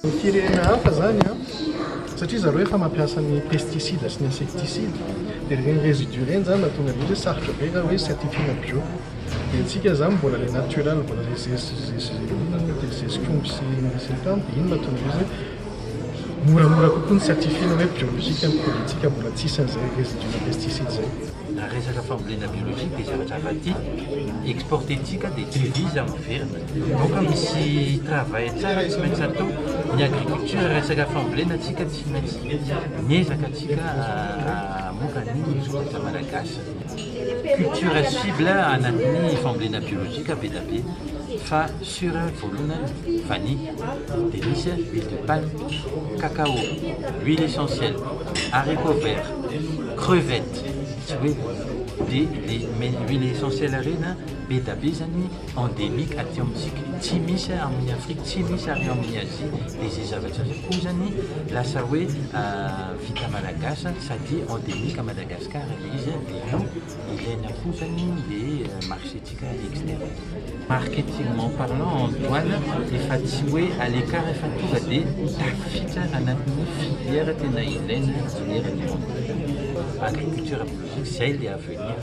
Ny firenena hafa izany an, satria zareo efa mampiasa ny pesticide sy ny insecticide, dia ireny residus ireny izany mahatonga an'izy hoe sarotra be raha hoe certifier-na bio. Dia antsika izany mbola ilay naturel, mbola ilay zez, zez, inona moa dia zezik'omby sy ny sisa tany, dia iny mahatonga an'izy hoe moramora kokoa ny certifier-na hoe biolojika ny produit-ntsika, mbola tsy hisy an'izay residus-na pesticide izay. Raha resaka fambolena biolojika dia zavatra hafa ity, exporter-ntsika dia devise miverina. Vahoaka misy travail tsara tsy maintsy atao ny agriculture resaka fambolena tsika tsy maintsy miezaka tsika amoka ny vokatra malagasy culture cible anatin'ny fambolena biologique be da be fa sur voalohany vanille de misy huile de palme cacao huile essentielle haricot vert crevette tsy hoe dia le huile essentielle reny be da be zany endemique aty amintsika, tsy misy amin'ny Afrique, tsy misy ary amin'ny Asie, dia izay zavatra izay koa zany lasa hoe vita malagasy sady endemique à Madagascar ilay izy dia io ilaina koa zany le marché tsika externe. Marketingement parlant en douane efa tsy hoe à l'écart fa tonga dia tafiditra anatin'ny filière tena ilaina engineer du monde, agriculture biologique, zay le avenir.